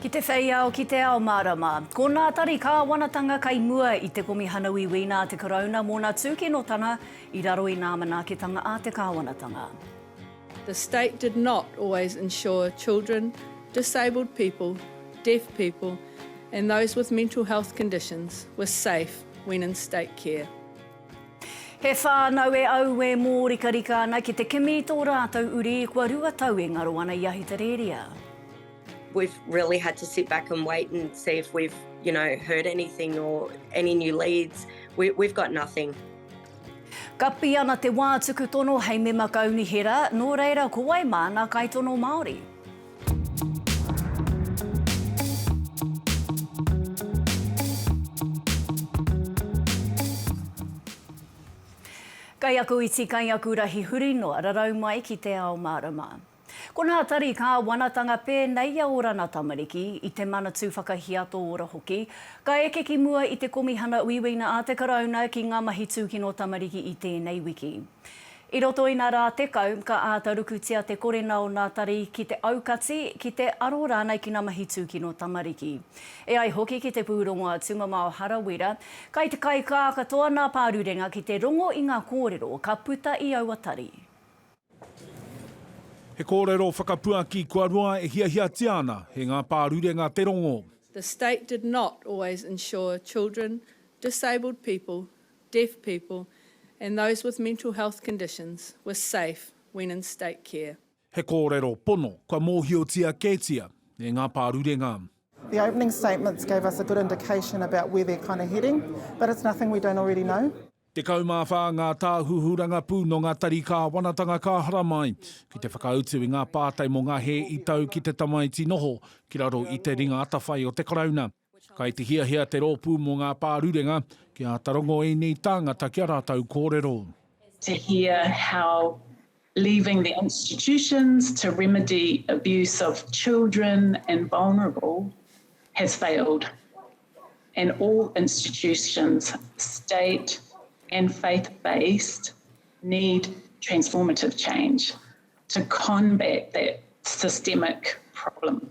Ki te whei ao, ki te ao mārama. Ko ngā tari kāwanatanga kei mua i Te Komihana Wīwī nā te Karauna mōna tūkinotanga i raro i ngā manaakitanga a te kāwanatanga. The state did not always ensure children, disabled people, deaf people and those with mental health conditions were safe when in state care. He whānau e aue mōrikarika ana ki te kimi i tō rātou uri kua rua tau e ngaro ana i Ahitereria. We've really had to sit back and wait and see if we've, you know, heard anything or any new leads. We've got nothing. Kapi ana te wā tuku tono hei mema kaunihera, nō reira ko wai māna kaitono Māori? Kai aku iti kai aku rahi huri noa rarau mai ki te ao marama. Ko nā tari kāwanatanga pēnei i a Orana tamariki, i te Manatū Whakahiato Ora hoki, ka eke ki mua i te Komihana Uiuina a te Karauna ki ngā mahi tūkino tamariki i tēnei wiki. I roto i nā rā tekau, ka āta rukutia te korena o nā tari ki te aukati, ki te aro rānei ki nā mahi tūkino tamariki. E ai hoki ki te pūrongo a Tumamao Harawira, kai te kaikā katoa nā Pārurenga ki te rongo i ngā kōrero ka puta i aua tari. He kōrero whakapuaki kua roa e hiahiatia ana, he ngā Pārurenga te rongo. The state did not always ensure children, disabled people, deaf people and those with mental health conditions were safe when in state care. He kōrero pono kua mōhiotia kētia e ngā pārurenga. The opening statements gave us a good indication about where they're kind of heading, but it's nothing we don't already know. Tekau mā whā ngā tāhuhu rangapū nō ngā tari kāwanatanga ka haramai ki te whakautu i ngā pātai mō ngā hē i tau ki te tamaiti noho ki raro i te ringa atawhai o te Karauna. Kai te hiahia te rōpū mō ngā pārurenga ki āta rongo ēnei tāngata ki a rātou kōrero. To hear how leaving the institutions to remedy abuse of children and vulnerable has failed and all institutions, state and faith based, need transformative change to combat that systemic problem.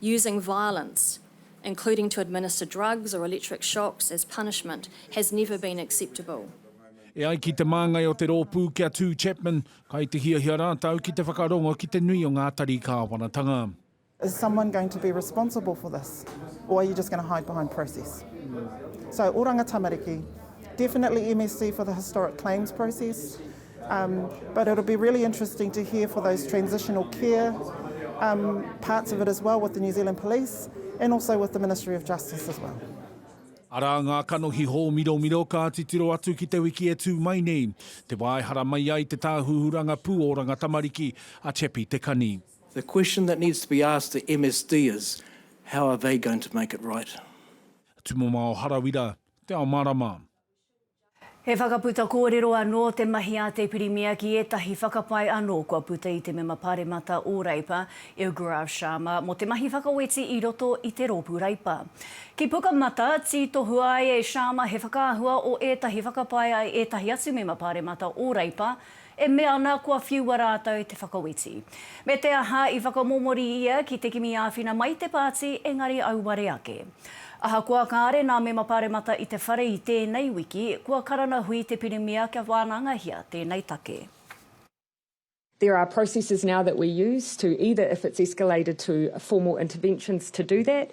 using violence, including to administer drugs or electric shocks as punishment, has never been acceptable. E ai ki te māngai o te rōpū ki a Tū Chapman, kai te hiahia rātou ki te whakarongo ki te nui o ngā tari kāwanatanga. Is someone going to be responsible for this or are you just going to hide behind process? So Oranga Tamariki, definitely MSC for the historic claims process, Um, but it'll be really interesting to hear for those transitional care um, parts of it as well with the New Zealand Police and also with the Ministry of Justice as well. Arā ngā kanohi hōmiromiro ka titiro atu ki te wiki e tū mai nei, te wā e hara mai ai te tāhuhu rangapū o Rangatamariki, a Chepi Te Kani. The question that needs to be asked the MSD is, how are they going to make it right? Tumamao Harawira, Te Ao Marama. He whakaputa kōrero anō te mahi a te Pirimia ki ētahi whakapae anō kua puta i te Mema Pāremata o Reipa, i a Gaurav Sharma, mō te mahi whakaweti i roto i te rōpū Reipa. Ki Pukamata, tītohua ai e Sharma he whakaahua o ētahi whakapae a ētahi atu Mema Pāremata o Reipa, e mea ana kua whiua rātou te whakaweti. Me te aha i whakamomori ia ki te kimi āwhina mai te pāti engari auare ake. Ahakoa kāre nā mema paremata i te whare i tēnei wiki, kua karana hui te Pirimia kia wānangahia tēnei take. There are processes now that we use to either if it's escalated to formal interventions to do that.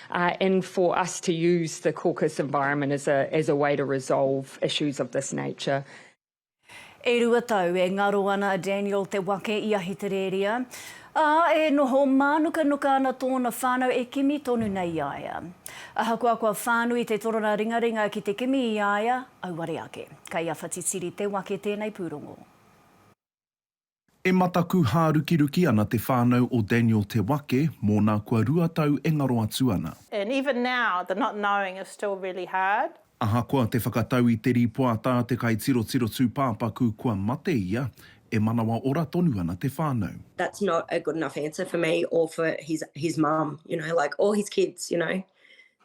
and for us to use the caucus environment as a as a way to resolve issues of this nature. E rua tau e ngaro ana a Daniel Te Wake i Ahitereria, ā, e noho mānukanuka ana tōna whānau e kimi tonu nei i a ia. Ahakoa kua whānui te torona ringaringa ki te kimi i a ia, auare ake. Kei a Whatitiri Te Wake tēnei pūrongo. E mataku hārukiruki ana te whānau o Daniel Te Wake mōna kua rua tau e ngaro atu ana. And even now, the not knowing is still really hard. Ahakoa te whakatau i te rīpoata a te kaitirotiro tūpāpaku kua mate ia, e manawa ora tonu ana te whānau. That's not a good enough answer for me or for his his mum, you know, like, or his kids, you know.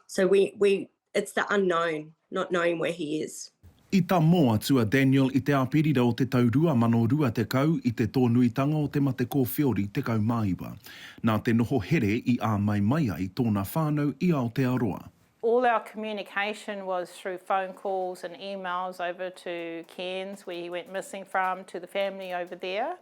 So we we It's the unknown, not knowing where he is. I tamō atu a Daniel i te Āperira o te tau 2020 i te tōnuitanga o te mate kōwhiori 19. Nā te noho here i āmai mai ai tōna whānau i Aotearoa. All our communication was through phone calls and emails over to Cairns where he went missing from to the family over there.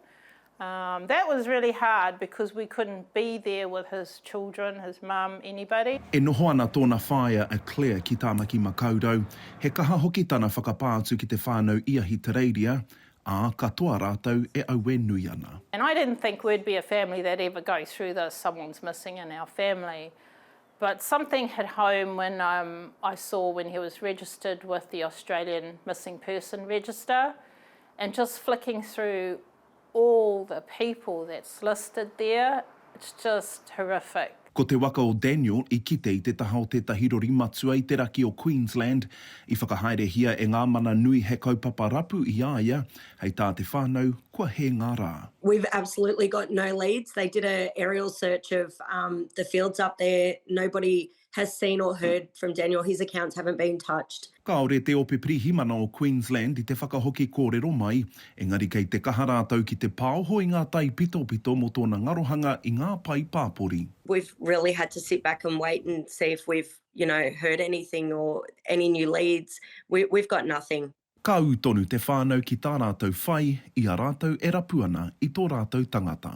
Umm that was really hard because we couldn't be there with his children, his mum, anybody. E noho ana tōna whaea a Claire ki Tāmaki Makaurau, he kaha hoki tana whakapā atu ki te whānau i Ahitereiria, ā, katoa rātou e aue nui ana. And I didn't think we'd be a family that ever go through this, someone's missing in our family. But something hit home when um I saw when he was registered with the Australian Missing Person Register and just flicking through all the people that's listed there, it's just horrific. Ko te waka o Daniel i kite i te taha o tētahi rori matua i te raki o Queensland. I whakahaerehia e ngā mana nui he kaupapa rapu i a ia, Hei tā te whānau, kua hē ngā rā. We've absolutely got no leads, they did a aerial search of the fields up there, nobody has seen or heard from Daniel, his accounts haven't been touched. Kāore te Ope Pirihimana o Queensland i te whakahoki kōrero mai, engari kei te kaha rātou ki te pāoho i ngā taipitopito mō tōna ngarohanga i ngā pae pāpori. We've really had to sit back and wait and see if we've, you know, heard anything or any new leads, we've got nothing. Ka ū tonu te whānau ki tā rātou whai i a rātou e rapu ana i tō rātou tangata.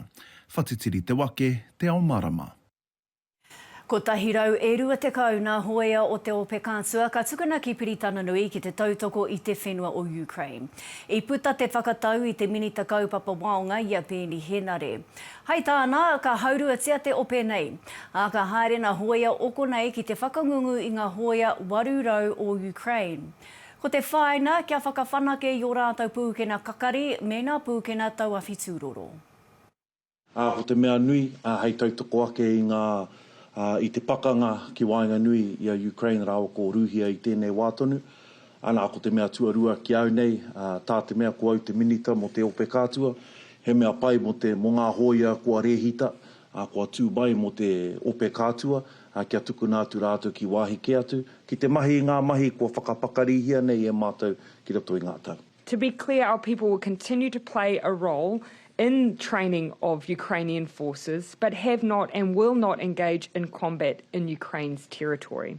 Whatitiri te wake, te ao marama. Kotahi rau e rua tekau nā hōea o te ope kātua ka tukuna ki Piritananui ki te tautoko i te whenua o Ukraine. I puta te whakatau i te Minita Kaupapa Waonga i a Peeni Henare. Hai tāna, ka hauruatia te ope nei, ā, ka haere nā hōea oko nei ki te whakangungu i ngā hōea 800 o Ukraine. Ko te whāina, kia whakawhanake i ō rātou pūkena kakari mēnā pūkena tauawhitū roro. Ā, ko te mea nui, ā, hei tautoko ake i ngā, ā, i te pakanga ki waenganui i a Ukraine rāua ko Rūhia i tēnei wā tonu, anā, ko te mea tuarua ki au nei, ā, tā te mea ko au te Minita mō te Ope Kātua, he mea pai mō te, mō ngā hōia kua rēhita, ā, kua tū mai mō te ope kātua, ā, kia tukuna atu rātou ki wāhi kē atu, ki te mahi i ngā mahi kua whakapakarihia nei e mātou ki roto i ngā tau. To be clear, our people will continue to play a role in training of Ukrainian forces, but have not and will not engage in combat in Ukraine's territory.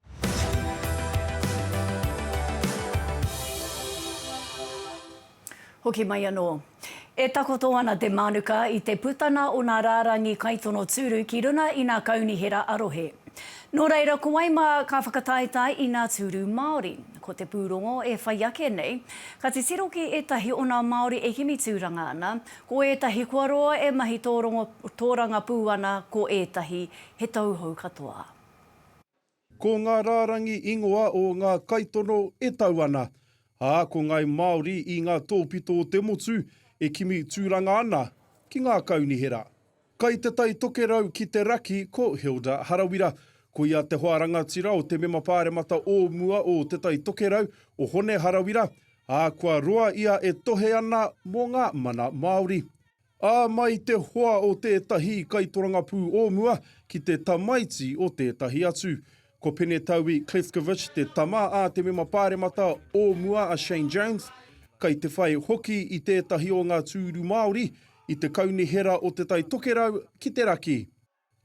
Hoki mai anō. E takoto ana te mānuka i te putanga o ngā rārangi kaitono tūru ki runga i ngā kaunihera a-rohe. Nō reira, ko wai mā ka whakataetae i ngā tūru Māori? Ko te pūrongo e whai ake nei, ka titiro ki ētahi o ngā Māori e kimi tūranga ana, ko ētahi kua roa e mahi tōrangapū ana, ko ētahi he tauhou katoa. Ko ngā rārangi ingoa o ngā kaitono e tau ana, ā, ko ngāi Māori i ngā tōpito o te motu e kimi tūranga ana ki ngā kaunihera. Kai te Tai Tokerau ki te Raki ko Hilda Harawira. Ko ia te hoa rangatira o te mema pāremata o mua o Te Tai Tokerau, o Hone Harawira, ā, kua roa ia e tohe ana mō ngā mana Māori. Ā, mai te hoa o tētahi kaitorangapū o mua ki te tamaiti o tētahi atu. Ko Penetaui Klefkovich te tama a te mema pāremata o mua a Shane Jones, kai te whai hoki i tētahi o ngā tūru Māori i te kaunihera o Te Tai Tokerau ki te Raki.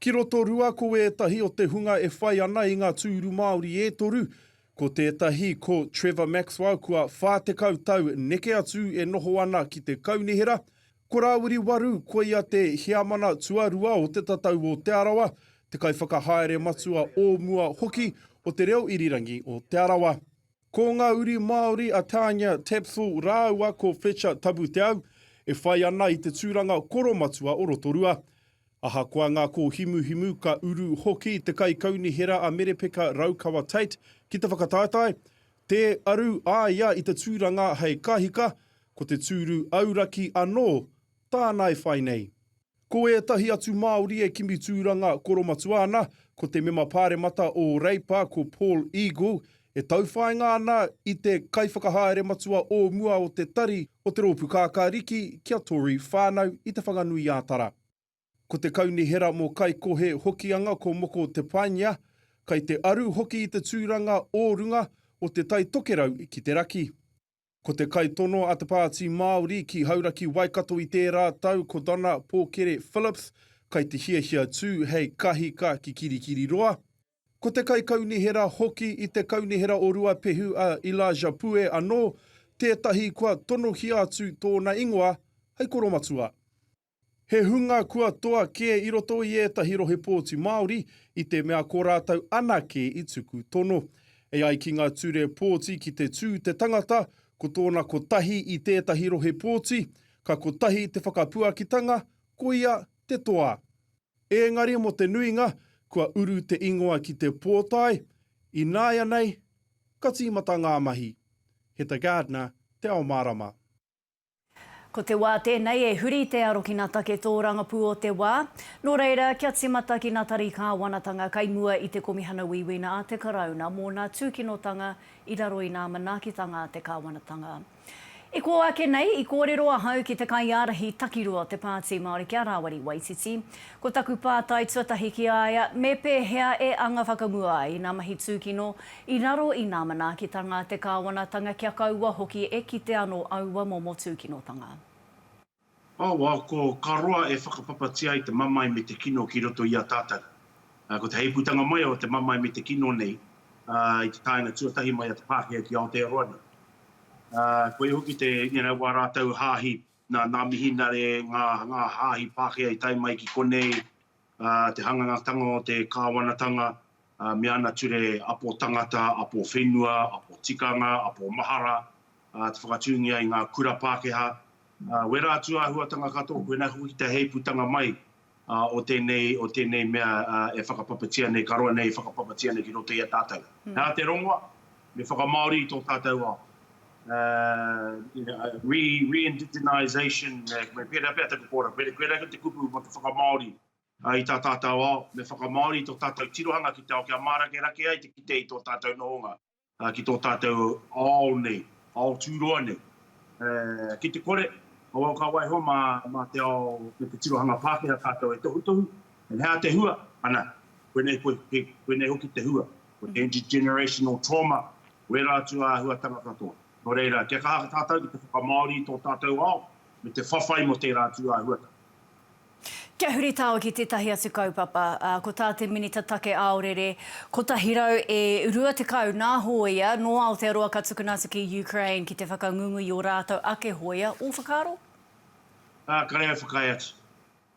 Ki Rotorua ko ētahi o te hunga e whai ana i ngā tūru Māori e toru, ko tētahi ko Trevor Maxwell kua 40 tau neke atu e noho ana ki te kaunihera, ko Rāwiri Waru koia te Heamana Tuarua o Te Tatau o Te Arawa, te kaiwhakahaere matua o mua hoki o Te Reo Irirangi o Te Arawa. Ko ngā uri Māori a Tanya Tapsell rāua ko Fletcher Tabuteau e whai ana i te tūranga koromatua o Rotorua. Ahakoa ngā kōhimuhimu, ka uru hoki te Kaikaunihera a Merepeka Raukawa Tate ki te whakataetae, tē aru a ia i te tūranga hei kahika, ko te tūru auraki anō tāna e whai nei. Ko ētahi atu Māori e kimi tūranga koromatua ana, ko te mema pāremata o Reipa, ko Paul Eagle, e tauwhāinga ana i te kaiwhakahaere matua o mua o te tari o te Rōpū Kākāriki ki a Tory Whānau i Te Whanganui-ā-Tara. Ko te Kaunihera mō Kaikohe Hokianga ko Moko Te Painea, kai te aru hoki i te tūranga o runga o Te Tai Tokerau ki te raki. Ko te kaitono a te Pāti Māori ki Hauraki Waikato i tērā tau ko Donna Pōkere Phillips, kai te hiahia tū hei kahika ki Kirikiriroa. Ko te kaikaunihera hoki i te Kaunihera o Ruapehu a Elijah Pue anō tētahi kua tonohia atu tōna ingoa hei koromatua. He hunga kua toa kē i roto i ētahi rohe pōti Māori i te mea ko rātou anake i tuku tono. E ai ki ngā ture pōti ki te tū te tangata ko tōna kotahi i tētahi rohe pōti, ka kotahi te whakapuakitanga, koia te toa. Ēngari mō te nuinga, kua uru te ingoa ki te pōtae, ināianei, ka tīmata ngā mahi. Heta Gardner, Te Ao Mārama. Ko te wā tēnei e huri i te arokina take tōrangapū o te wā. Nō reira, kia tīmata ki ngā tari kāwanatanga kai mua i te Komihana Uiuina a te Karauna mō ngā tūkinotanga i raro i ngā manaakitanga a te kāwanatanga. I kō ake nei, i kōrero ahau ki te kaiārahi takirua o te Pāti Māori ki a Rāwari Waititi. Ko taku pātai tuatahi ki a ia, me pēhea e anga whakamua ai ngā mahi tūkino I raro i nā manaakitanga te Kāwanatanga kia kaua hoki e kite anō aua momo tūkinotanga. Awa, ko ka roa e whakapapatia ai te mamae me te kino ki roto i a tātou. Ko te heipūtanga mai o te mamae me te kino nei i te taenga tuatahi mai a te Pākehā ki Aotearoa nei. Koia hoki te, you know, wā rātou hāhi, nā, nā Mihinare, ngā, ngā hāhi Pākehā i tae mai ki konei, te hangangatanga o te kāwanatanga me ana ture apo tangata, apo whenua, apo tikanga, apo mahara, te whakatūngia i ngā kura Pākehā. Wera atu āhuatanga katoa koinā hoki te heipūtanga mai o tēnei, o tēnei mea e whakapapatia nei, ka roa nei e whakapapatia nei ki roto i a tātou. Nā te rongoa, Me whakamāori tō tātou ao. Re-indigenization, me pērā pea taku kōrero, pērā kau te kupu mō te whakamāori i tā tātou ao. Me whakamāori tō tātou tirohanga ki te ao kia mārakerake ai te kite i tō tātou nohonga, ki tō tātou ao nei, ao tūroa nei. Ki te kore, kawau ka waiho mā te ao me te tirohanga Pākehā tātou e tohutohu, and hea te hua? Ana, koinei koe, koinei hoki te hua. Ko te intergenerational trauma, wērā atu āhuatanga katoa. Nō reira, kia kaha tātou ki te whakamāori i tō tātou ao, me te whawhai mō tērā atu āhuatanga. Kia huritao ki tētahi atu kaupapa, ā, ko tā te Minita Take Aorere 120 nā hōia nō Aotearoa ka tukuna atu ki Ukraine ki te whakangungu i ō rātou ake hōia, ō whakaaro? Ā, kare au whakaae atu.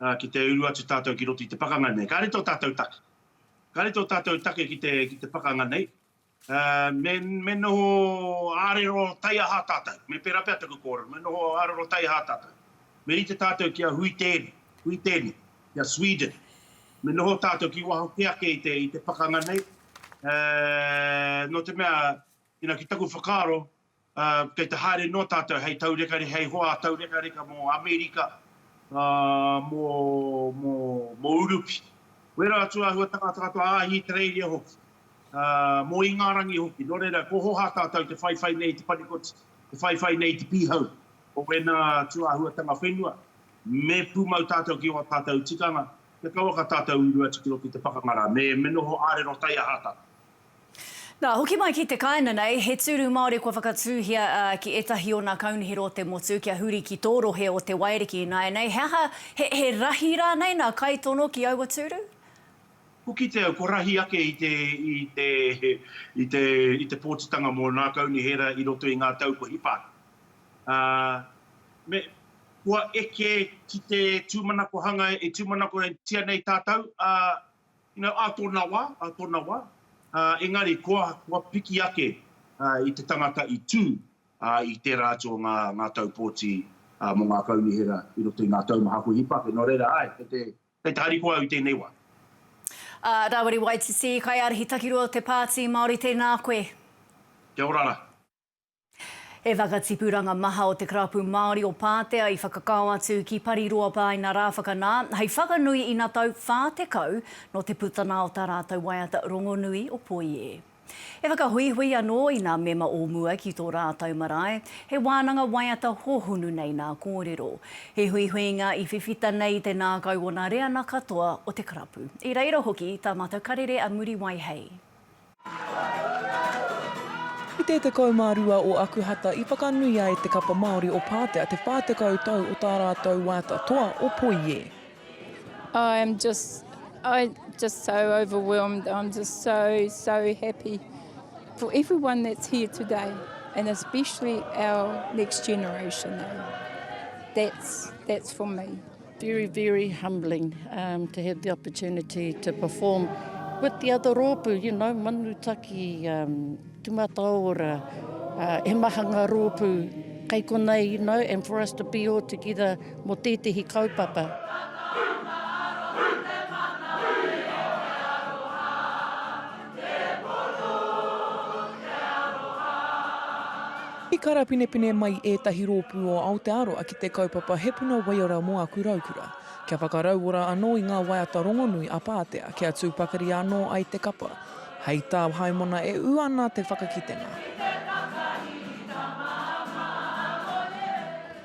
Ā, ki te uru atu tātou ki roto i te pakanga nei, kāre tō tātou take. Ka rite o tatou take ki te ki te pakanga nei. Me me noho arero taiaha tatou. Me pera pea taku korero, me noho arero taiaha tatou. Me rite tatou ki a hui tene, hui tene, ki a Sweden. Me noho tatou ki waho ke ake i te i te pakanga nei. No te mea, you know, ki taku whakaaro, Kei te haere noa tātou hei taurekare, hei hoa taurekareka mō Amerika, mō Urupi. Wera atu āhuatanga katoa, Ahitereiria hoki, mō Ingarangi hoki. Nō reira, ko Hoha tātou te whaiwhai nei i te panikoti, te whaiwhai nei i te pīhau o wēnā atu āhuatanga whenua. Me pūmau tātou ki ō tātou tikanga, kia kawaka tātou uru atu ki roto i te pakanga rā. Me noho ārero taia hā tātou. Nā, hoki mai ki te kāinga nei, he tūru Māori kua whakatūhia ki ētahi ōna kaunihera o te motu kia huri ki tō rohe o Te Wairiki ināianei. He aha, he rahi rānei nā kaitono ki aua tūru? Hokitea au, kua rahi ake i te pōtitanga mō nā kaunihera i roto i ngā tau kua hipa ake. Me, kua eke ki te tūmanako hanga, e tūmanakotia nei tātou, ā, You know, a tona wa, a tona wa, engari koa, koa piki ake i te tangata i tu i tera atu o nga, nga tau poti mo nga kaunihera i roto i nga taumaha ko Hipake, no reira, ae, kei te, kei te harikoa au i tenei wa. A, Rawiri Waititi, Kaiarahi Takirua o te Paati Maori, tena koe. Kia ora ra. He whakatipuranga maha o te Karapu Māori o Pātea i whakakao atu ki Pariroapaina rā whakanā hei whakanui ina tau 40 nō te putana o tā rātou waiata rongonui o Poie. E whakahuihui anō i nā mema o mua ki tō rātou marae, he wānanga waiata hōhonu nei nā kōrero. He huihuinga i whiwhita nei i te nākau o nā reana katoa o te karapu. I reira hoki tā Matakarere a Muriwai hei. I te 12 o Akuhata i whakanuia e te Kapa Māori o Pātea te 40 tau o tā rātou wāta toa o Poie. I am just, I just so overwhelmed, I'm just so, so happy for everyone that's here today and especially our next generation, that's, that's for me. Very, very humbling um, to have the opportunity to perform with the other rōpū, you know, Manutaki, um, Tumataora, uh, he maha ngā rōpū kei konei, you know, and for us to be all together mo tētehi kaupapa. Thank you. I karapinepine mai ētahi rōpū o Aotearoa ki te kaupapa He Puna Waiora mō Aku Raukura, kia whakarauora anō i ngā waiata rongonui a Pātea kia tū pakari anō ai te kapa, hei tā Haimona e ū ana te whakakitenga.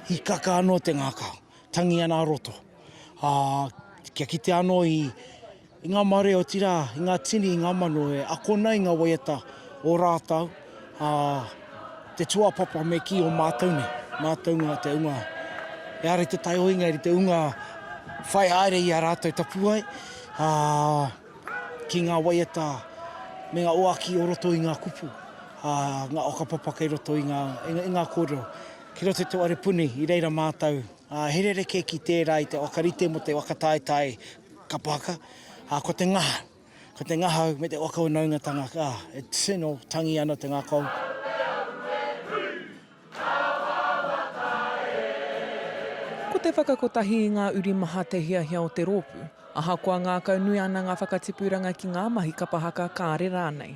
Hīkaka anō te ngākau, tangi ana a roto, ā, kia kitea anō i I ngā mare, otirā, i ngā tini, i ngā mano e ako ana i ngā waiata o rātou, ā, te tūāpapa me kī o mātou nei, mātou ngā te unga e ara i te taihoinga, i te unga whai haere i a rātou tapuwae, ā, ki ngā waiata me ngā oaki o roto i ngā kupu, ā, ngā whakapapa kei roto i ngā, i ngā kōrero. Ki roto i te whare puni, i reira mātou, ā, he rerekē ki tērā i te whakarite mō te whakataetae. Kapaka, ā, ko te ngahau. Ko te ngahau me te whakaunaungatanga, ā, e tino tangi ana te ngakau. Ko te whakakotahi i ngā uri maha te hiahia o te rōpū, ahakoa ngākaunui ana ngā whakatipuranga ki ngā mahi kapa haka kāre rānei.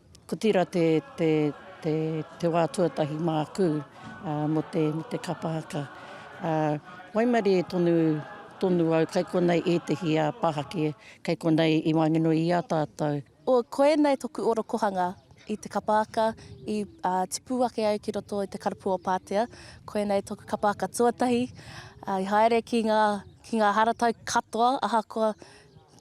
Ko tira te te te te wa tuatahi māku mo te mo te kapa haka. A waimarie tonu tonu au kai konei ētehi a pahake kai konei i wāngeno i a tātou. O koinei toku orokohanga i te kapa haka i a tipu ake ai ki roto i te karapu o Patea. Koinei toku kapa haka tuatahi i haere ki nga ki nga haratau katoa ahakoa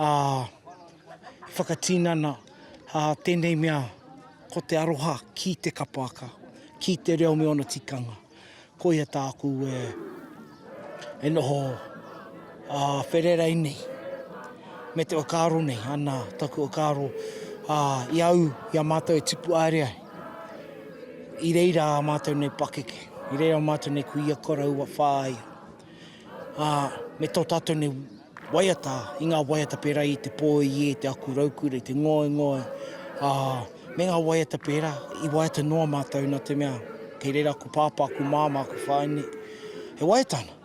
ā, i whakatinana ā tēnei mea ko te aroha ki te kapoaka, ki te reo me ōna tikanga. Koia tāku e, e noho ā whererei nei, me te whakaaro nei, ana taku whakaaro ā i au i a mātou e tipu aere ai, i reira ā mātou nei pakeke, i reira ā mātou nei kuia koroua whāia. ā, me tō tātou nei waiata, i ngā waiata pērā i te pōiē, te aku raukura, i te ngoingoi, ā, me ngā waiata pērā, i waiata noa mātou nā te mea, kei reira aku pāpā, aku māmā, aku whaene, e waiata ana.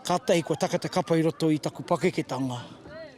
Kātahi kua taka te kapa i roto i taku pakeketanga.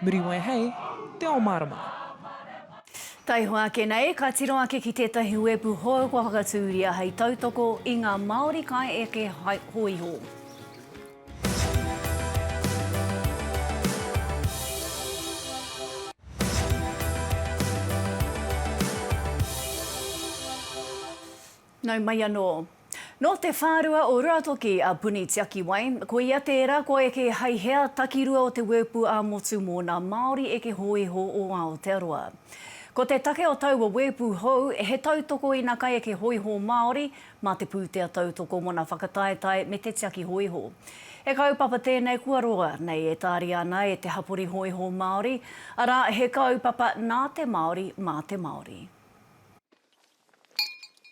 Muriwai hei te o marama. Taihoa ake nei, ka tiro ake ki tētahi wepu hou kua whakatūria hei tautoko i ngā Māori kai eke hōiho. Nau mai anō. Nō te whārua o Ruatoki a Puni Tiakiwai, ko ia tērā kua eke hai hea takirua o te wēpu ā-motu mō nā Māori eke hōiho o Aotearoa. Ko te take o taua wēpu hou, he tautoko i nā kaieke hōiho Māori mā te pūtea tautoko mō nā whakataetae me te tiaki hōiho. He kaupapa tēnei kua roa nei e tāria ana e te hapori hōiho Māori, arā, he kaupapa nā te Māori, mā te Māori.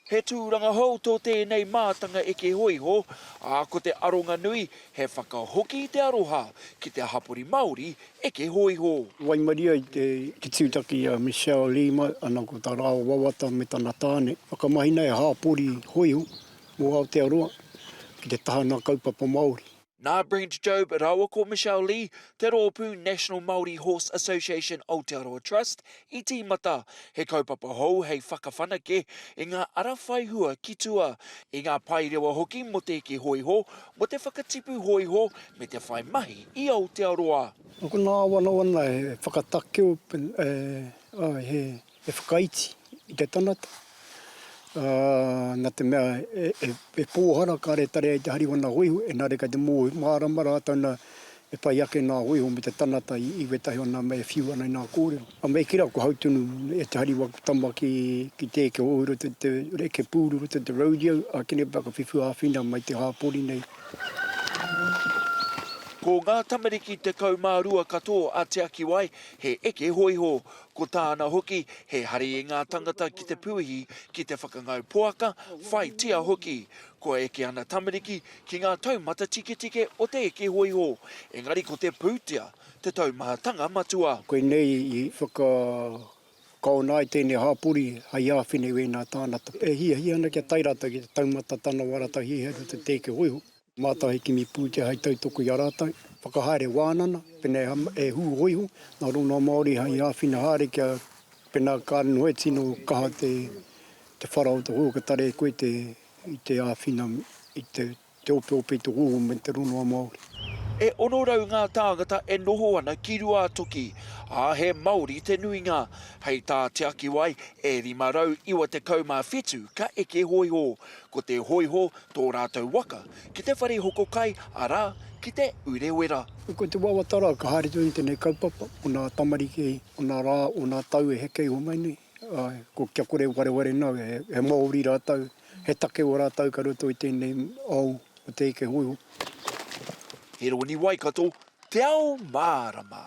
He tūranga hou tō tēnei mātanga eke hōiho, ā, ko te aronga nui, he whakahoki i te aroha ki te hapori Māori eke hōiho. Waimarie ai te tūtaki i a Michelle Lima, ana ko tā Rao wawata me tana tāne whakamahina he hapori hōiho mō Aotearoa ki te taha nā kaupapa Māori. Nā Brent Jobe rāua ko Michelle Lee, te rōpū National Māori Horse Association Aotearoa Trust, i tīmata he kaupapa hou hei whakawhanake i ngā ara whai hua ki tua, i ngā paerewa hoki mō te eke hōiho, mō te whakatipu hōiho me te whai mahi i Aotearoa. Ko ngā wanawana e whakatakeo, he He whakaiti i te tangata, ā, nā te mea e pōhara kare tari ai te hari o nā hōiho, engari kei te mōhio mārama rātou nā e whai ake nā hōiho me te tangata i wētahi o nā mea e whiu ana i nā kōrero. A me kī rā, kua hau tonu e te hari waku tama ki te eke hou i roto i te eke pūru i roto i te rodeo, ā, kīnei pea ka whiwhi āwhina mai te hāpori nei. Ko ngā tamariki tekau mā rua katoa a Te Akiwai he eke hōiho. Ko tāna hoki, he hari i ngā tangata ki te pūhi, ki te whakangau poaka, whaitia hoki. Kua eke ana tamariki ki ngā taumata tiketike o te eke hōiho, engari ko te pūtea te taumahatanga matua. Koinei i whakakaona ai tēnei hāpori hei āwhina i wēnā tāngata e hiahia ana kia tae rātou ki te taumata tana wā rātou hihiri o te eke hōiho. Mātau he kimi pūtea hai tautoko i a rātau, whakahaere wānana, pēnā e hū hōiho ngā rongoā Māori hai āwhina haere kia pēnā ka noho e tino kaha te whara o te hou ka tarehe koe i te āwhina i te opeope i te hou me te rongoā Māori. E 600 ngā tāngata e noho ana ki Ruātoki, ā, he Māori te nuinga. Hei tā Te Akiwai, e 597 ka eke hōiho, Ko te hōiho tō rātou waka ki te whare hoko kai, arā, ki Te Urewera. Ko te wawata rā ka haere tonu i tēnei kaupapa, ko ngā tamariki, ko ngā rā, ko ngā tau e heke iho mai nei, āe, ko kia kore e wareware nāu, he Māori rātou, he take o rātou ka roto i tēnei ao o te eke hōiho. He rōni Waikato Te Ao Mārama.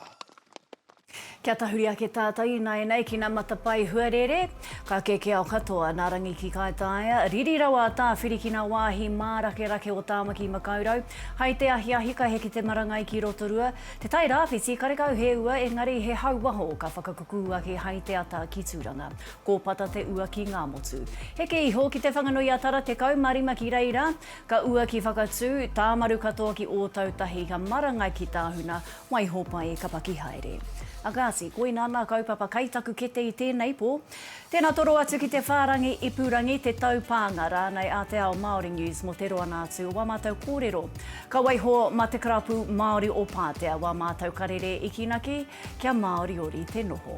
Kia tahuri ake tātou ināianei ki nā matapae huarere, ka kēkēao katoa nā Rangi ki Kaitaia, riri rawa a Tāwhiri ki nā wāhi mārakerake o Tāmaki Makaurau, hai te ahiahi ka heke te marangai ki Rotorua, Te Tai Rāwhiti karekau he ua engari he hau waho ka whakakukū ake hai te ata ki Tūranga. Kōpata te ua ki Ngāmotu. Heke iho ki Te Whanganui-a-Tara 15 ki reira, Ka ua ki Whakatū, Tāmaru katoa ki Ōtautahi, ka marangai ki Tāhuna, Waihopai, ka paki haere. A Gati, koina ana a kaupapa kai taku kete i tēnei pō. Tēnā toro atu ki te whārangi ipurangi, te taupānga rānei a Te Ao Māori News mō te roanga atu o wā mātou kōrero. Ka waiho mā te karapu Māori o Pātea wā mātou karere i kīnaki kia māoriori te noho.